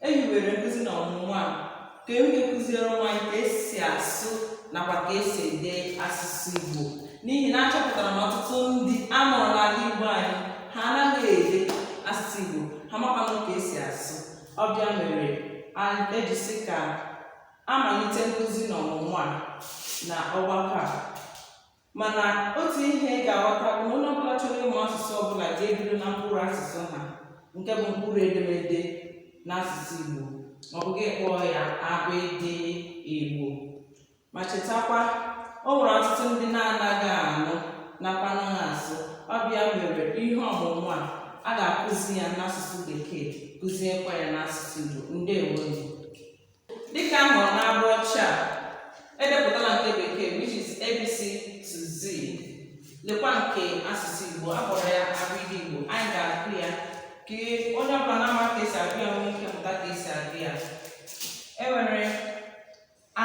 e hiwere nkụzi na ọmụmụ a ka e nwee ike kụziere ụmụ anyị ka esi asụ nakwa ka esi ede asụsụ Igbo n'ihi na achọpụtara na ọtụtụ ndị a mụrụ n'ala Igbo anyị ha anaghị ede asụsụ Igbo ha makwanụ ka esi asụ ọ bụ ya mere a- e ji sị ka amalite nkụzi na ọmụmụ a na ọgbakọ a mana otu ihe ị ga-aghọta bụ na onye ọbụla chọrọ ịmụ asụsụ ọbụla ga-ebido na mkpụrụ asụsụ ha nke bụ mkpụrụ edemede n'asụsụ Igbo ma ọ bụ gị kpọọ ya abịdị Igbo ma chetakwa o nwere ọtụtụ ndị na-anaghị anụ nakwa anaghị asụ ọ bụ ya mere ihe ọmụmụ a a ga-akụzi ya n'asụsụ bekee kụziekwa ya n'asụsụ Igbo ndewo Dịka a hụrụ n'ugbo ọcha a, edepụtala nke bekee which is ABC to Z. Lekwa nke asụsụ Igbo, a kpọrọ ya abịdị Igbo. Anyị ga-agụ ya ka onye ọbụla na-amaghị ka esi agụ ya nwee ike mụta ka esi agụ ya. E nwere A,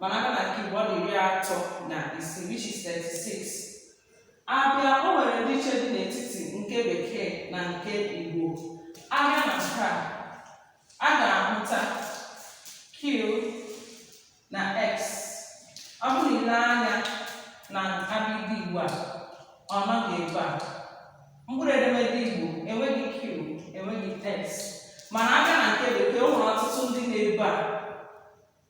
mana abịa na nke Igbo ọ dị iri atọ na isii which is 36 abịa o nwere ndị iche dị n'etiti nke bekee na nke Igbo abịa na nke a a ga-ahụta Q na X ọ bụrụ i lee anya na abịdị Igbo a ọ nọghị ebe a mkpụrụ edemede Igbo enweghị Q enweghị X mana abịa na nke bekee o nwere ọtụtụ ndị nọ ebe a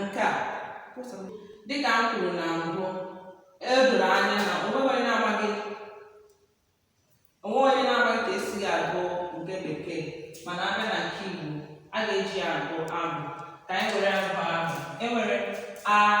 nke a dịka m kwuru na mbụ o doro anya na o nweghị onye na-amaghị o nweghị onye na-amaghị ka esi agụ nke bekee mana abịa na nke igbo a ga-eji agụ abụ ka anyị were abụ ahụ enwere a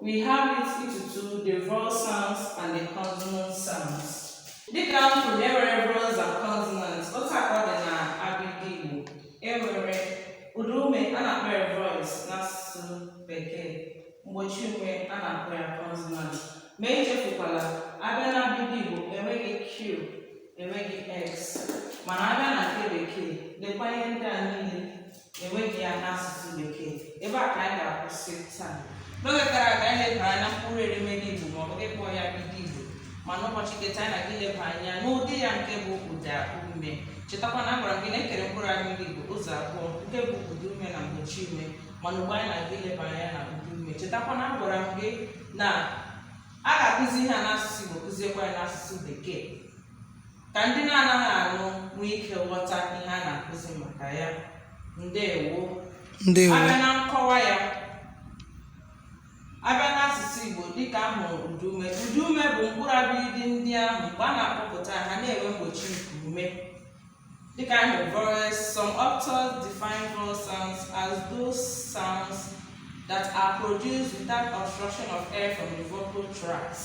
We have it into two, the vowel sounds and the consonant sounds. Dịka m kwuru na enwere vowels and consonants, otu a ka ọ dị na abịdị Igbo. Enwere ụda ume a na-akpọ ya vowels n'asụsụ Bekee. Mgbochi ume a na-akpọ ya consonant. Ma echefukwala, abịa na abịdị Igbo enweghị Q, enweghị X. Mana abịa na nke Bekee, lekwa ihe ndị a niile enweghị ya n'asụsụ bekee ebe a ka anyị ga-akwụsị taa n'oge gara aga anyị lebara anya na mkpụrụ edemede igbo ma ọ bụ ị kpọọ ya abịdị igbo ma n'ụbọchị nke taa anyị na-aga ileba anya n'ụdị ya nke bụ ụda ume chetakwa na agwara m gị na e kere mkpụrụ abịdị igbo ụzọ abụọ nke bụ ụda ume na mgbochi ume mana ugbu a anyị na-aga ileba anya na ụda ume chetakwa na agwara m gị na a ga-akụzi ihe a n'asụsụ igbo kụziekwa ya n'asụsụ bekee ka ndị na-anaghị anụ nwee ike ghọta ihe a na-akụzi maka ya ndewo ndewo abịa na nkọwa ya abịa n'asụsụ Igbo dịka a hụrụ ụdaume ụdaume bụ mkpụrụ abịịdị ndị ahụ mgbe a na-akpọpụta ha na-enwe mgbochi nke ume dịka a hụrụ vowels some authors define vowel sounds as those sounds that are produced without obstruction of air from the vocal tracts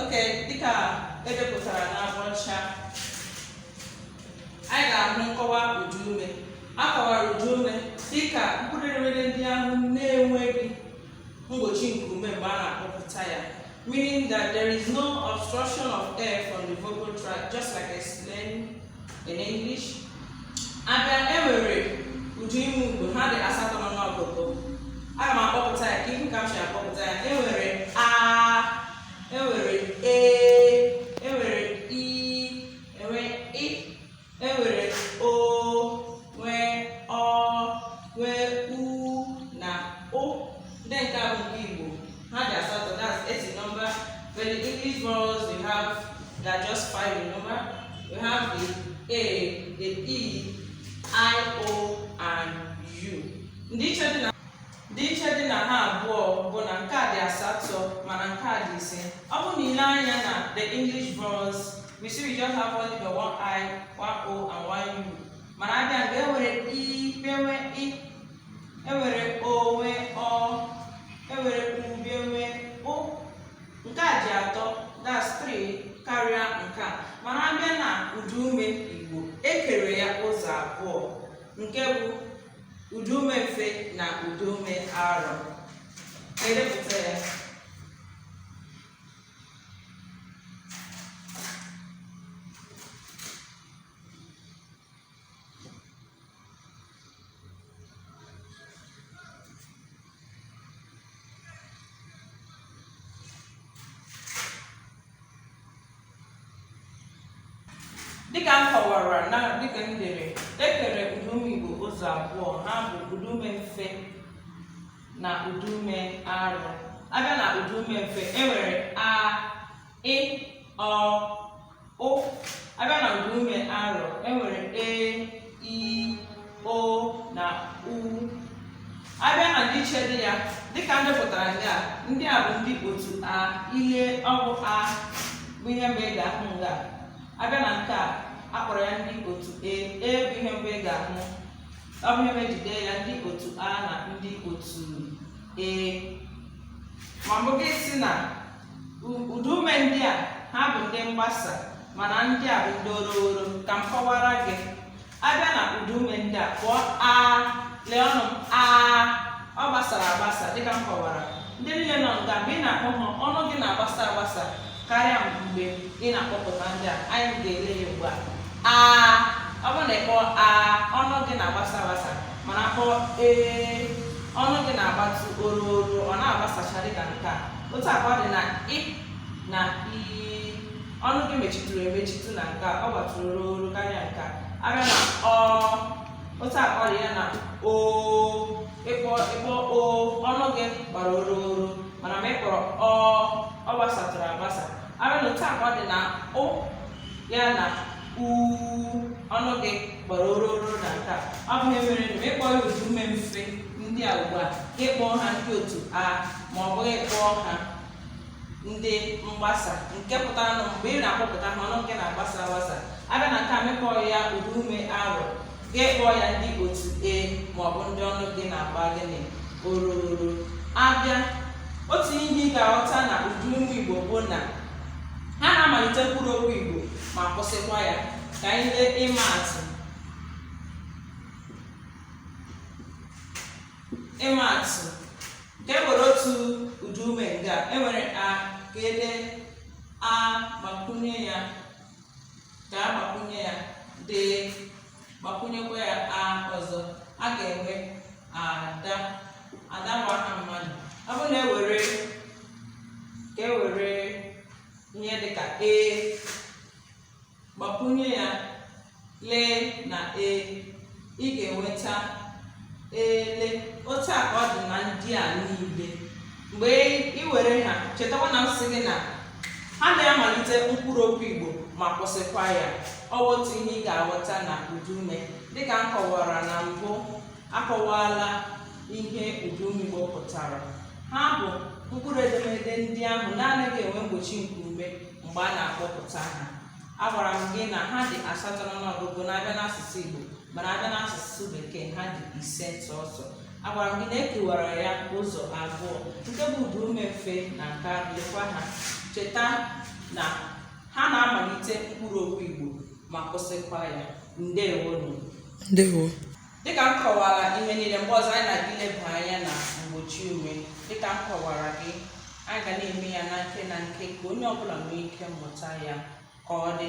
okay dịka edepụtara n'ụgbọ ọcha anyị ga-ahụ nkọwa ụdaume a kọwara ụdaume dị ka mkpụrụ edemede ndị ahụ na-enweghị mgbochi nke ume mgbe a na-akpọpụta ya meaning that there is no obstruction of air from the vocal tract just like explained in English abịa enwere ụdaume Igbo ha dị asatọ n'ọnụọgụgụ aga m akpọpụta ya ka ị hụ ka m si akpọpụta ya enwere a enwere e E nwere o, nwee ọ, nwee u na ụ. Ndị nke a bụ nke Igbo. Ha dị asatọ. That's eight in number. But the English vowels we have they are just five in number. We have the A, the E, I, O, and U. Ndịiche dị na Dị iche dị na ha abụọ bụ na nke a dị asatọ mana nke a dị ise. Ọ bụ na i lee anya na the English vowels, we see we just have only the one I, one O and one U. Mana abịa n'Igbo e nwere i, bịa nwee ị, e nwere o, nwee ọ, e nwere u, bịa nwee ụ. Nke a ji atọ, that's three, karịa nke a. Mana abịa na ụdaume Igbo, e kere ya ụzọ abụọ. Nke bụ ụdaume mfe na ụdaume arọ edepụta ya dịka m kọwara na dịka m dere ekere ụdaume Igbo ụzọ abụọ ha bụ ụdaume mfe na ụdaume arụ abịa na ụdaume mfe enwere a ị ọ ụ abịa na ụdaume arụ enwere e i o na u abịa na ndịiche dị ya dịka m depụtara nga ndị a bụ ndị otu a ị lee ọ bụ a bụ ihe mbụ ị ga-ahụ nga abịa na nke a akpọrọ ya ndị otu e e bụ ihe mbụ ị ga-ahụ ọ bụ ihe mere e ji dee ya ndị otu a na ndị otu e ma ọ bụ gị sị na Ụdaume ndị a ha bụ ndị mgbasa mana ndị a bụ ndị ororo ka m kọwara gị abịa na ụdaume ndị a kpọọ a lee ọnụ m a ọ gbasara agbasa dịka m kọwara ndị niile nọ nga mgbe ị na-akpọ ha ọnụ gị na-agbasa agbasa karịa mgbe ị na-akpọpụta ndị a anyị ga-ele ya ugbu a a ọ bụrụ na ịkpọ a ọnụ gị na-agbasa agbasa mana kpọọ ee ọnụ gị na-agbatụ ororo ọ na-agbasacha dịka nke a otu a ka ọ dị na ị na i ọnụ gị mechitụrụ emechitụ na nke a ọ gbatụrụ ororo karịa nke a abịa na ọ otu a ka ọ dị ya na o ịkpọ ịkpọ o ọnụ gị gbara ororo mana ma ị kpọrọ ọ ọ gbasatụrụ agbasa abịa na otu a ka ọ dị na ụ ya na u ọnụ gị gbara ororo na nke a ọ bụ ihe mere na ịkpọ ya ụdaume mfe ndị a ugbu a ịkpọ ha ndị otu a ma ọ bụ ị kpọọ ha ndị mgbasa nke pụtara na mgbe ị na-akpọpụta ha ọnụ gị na-agbasa agbasa abịa na nke a ma ị kpọọ ya ụdaume arọ ga-akpọ ya ndị otu e ma ọ bụ ndị ọnụ gị na-agba gịnị ororo abịa otu ihe ị ga-aghọta na ụdaume igbo bụ na ha na-amalite mkpụrụ okwu igbo ma kwụsịkwa ya ka anyị lee ịma atụ ịma atụ ka e were otu ụdaume nga e nwere a ka e dee a gbakwunye ya ka a gbakwunye ya d gbakwunyekwa ya a ọzọ a ga-enwe ada ada bụ aha mmadụ ọ bụrụ na e were ka e were ihe dị ka e gbakwunye ya l na e ị ga-enweta ele otu a ka ọ dị na ndị a niile mgbe ị were ha chetakwa na m sị gị na ha na-amalite mkpụrụ okwu Igbo ma kwụsịkwa ya ọ bụ otu ihe ị ga-aghọta na ụdaume dịka m kọwara na mbụ akọwala ihe ụdaume Igbo pụtara ha bụ mkpụrụ edemede ndị ahụ na-anaghị enwe mgbochi nke ume mgbe a na-akpọpụta ha agwara m gị na ha dị asatọ n'ọnụọgụgụ ma a bịa n'asụsụ Igbo mana a bịa n'asụsụ bekee ha dị ise sọsọ agwara m gị na e kewara ya ụzọ abụọ nke bụ ụdaume mfe na nke lekwa ha cheta na ha na-amalite mkpụrụ okwu Igbo ma kwụsịkwa ya ndewonu ndewo Dịka m kọwara ihe niile mgbe ọzọ anyị na-aga ileba anya na mgbochiume dịka m kọwara gị anyị ga na-eme ya na nke na nke ka onye ọbụla nwee ike mụta ya ka ọ dị